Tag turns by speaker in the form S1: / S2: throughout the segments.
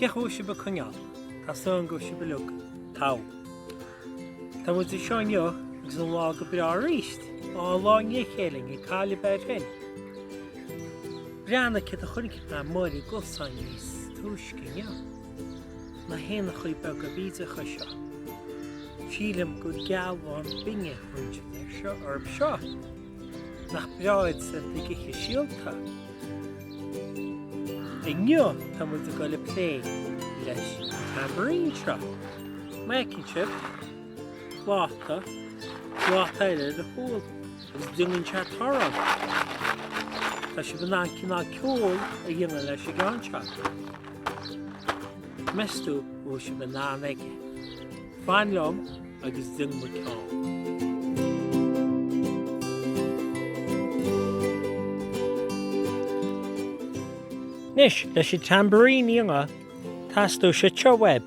S1: Cén chaoi a bhfuil sibh ag coinneáil? Tá súil agam go bhfuil sibh uilig togha. Tá muid anseo inniu agus an lá go breá arís. Á an lá le chéile ag cáil a bheith féin. Breathnaigh céard a chonaic mé ar an gcosán níos túisce inniu. Na héanachaí beaga bídeacha seo. Sílim gur gealbháin binne a thugtar orthu seo. Nach breá iad sin ag ithe síolta? Inniu tá muid ag dul ag plé leis an tambourine seo. Má fheiceann sibh pláta, pláta eile le húll. Is déanann sé torann. Tá sibh in ann cineál ceoil a dhéanamh leis an gceann seo. Meas tú an bhfuil sibh in ann aige. Fan liom agus déanfaidh mé ceol. Anois, leis an tambourine a dhéanamh, teastóidh seo uaibh.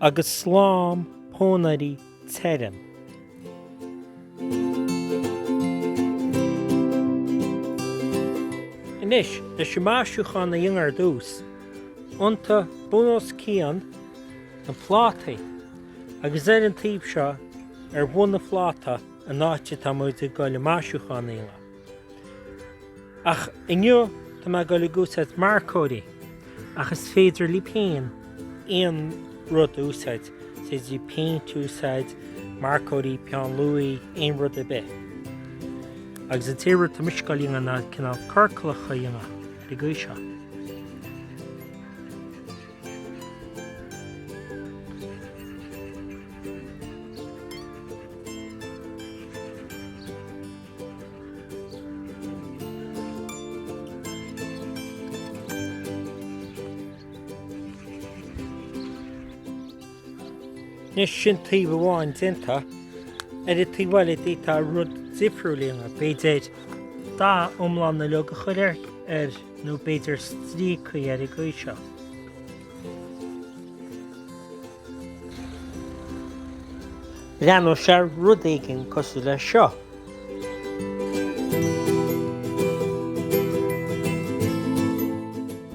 S1: Agus slám pónairí tirim. Anois, leis an maisiúchán a dhéanamh ar dtús, iontaigh bun os cionn na plátaí, agus ar an taobh seo, ar bhun an phláta, an áit atá muid ag dul an maisiúchán a dhéanamh. Ach inniu tá mé ag dul ag úsáid marcóirí, ach is féidir libh féin aon rud a úsáid, is féidir libh péint a úsáid, marcóirí, peann luaidhe, aon rud ar bith. Agus an t-aon rud atá mise ag dul a dhéanamh ná cineál ciorcalacha a dhéanamh ar an gcaoi seo. Anois sin taobh amháin déanta ar an taobh eile d'fhéadfá rud difriúil a dhéanamh, b'fhéidir dath iomlán uilig a chur air nó b'fhéidir stríocaí ar an gcaoi seo. Breathnóidh sé ar rud éigin cosúil le seo.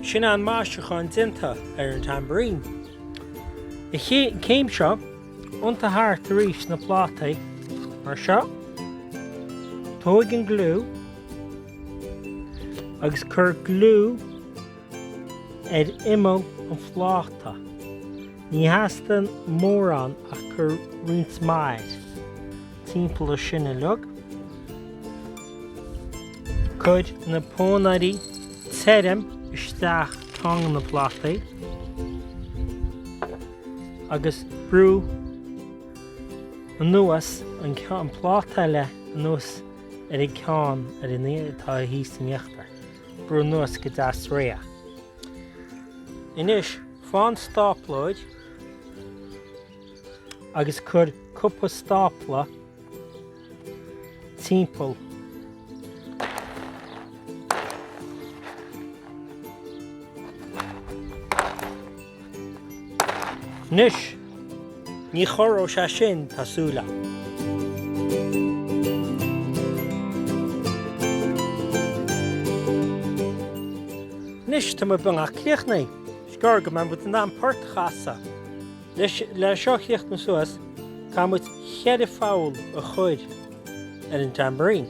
S1: Sin é an maisiúchán déanta ar an tambourine. An chéim seo, iontaigh thart arís na plátaí, mar seo. Tóig an gliú agus cuir gliú Ar imeall an phláta. Ní theastaíonn mórán ach cuir roinnt mhaith air. Timpeall air sin uilig. Cuir na pónairí tirim isteach i gceann de na plátaí agus brú anuas an pláta eile anuas ar an gceann atá thíos in íochtar. brú anuas go deas réidh. Anois faigh an stáplóir agus cuir cúpla stápla timpeall. Anois, ní chorróidh sé sin, tá súil agam. Anois, tá muid beagnach críochnaithe. Is gearr go mbeidh muid in ann port a chasadh. Anois, le seo a chríochnú suas, caithfidh muid cheithre pholl a chur ar an dtambourine.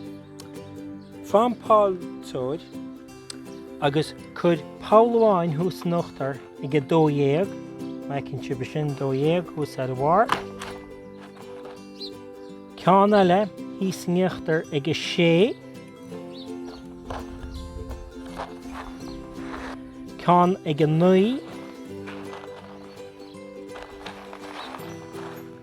S1: Faigh an polltóir. Agus cuir poll amháin thuas in uachtar ag 12, feiceann sibh é sin, 12 thuas ar a bharr, ceann eile thíos in íochtar ag 6, ceann ag 9,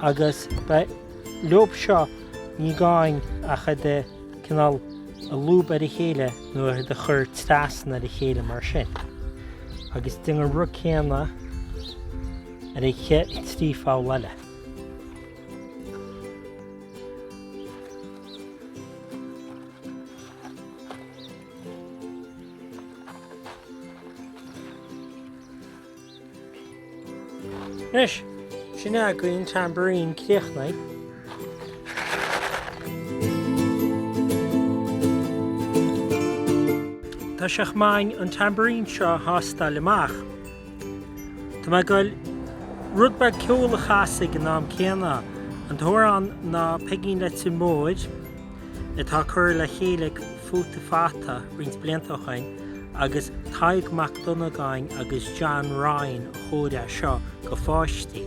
S1: Agus ba leob seo, ní gá dhúinn ach iad a, cineál, a lúbadh ar a chéile nó iad a chur trasna ar a chéile mar sin. Agus déan an rud céanna ar na trí pholl eile. Anois, sin againn Tambourine críochnaithe. Tá sé chomh maith an Tambourine seo a thástáil amach. Tá mé ag dul rud beag ceoil a chasadh ag an am céanna, an t-amhrán ná Peigín Leitir Móir, atá curtha le chéile ag Futa Fata roinnt blianta ó shin, agus Tadhg Mac Dhonnagáin agus John Ryan a chóirigh seo do pháistí.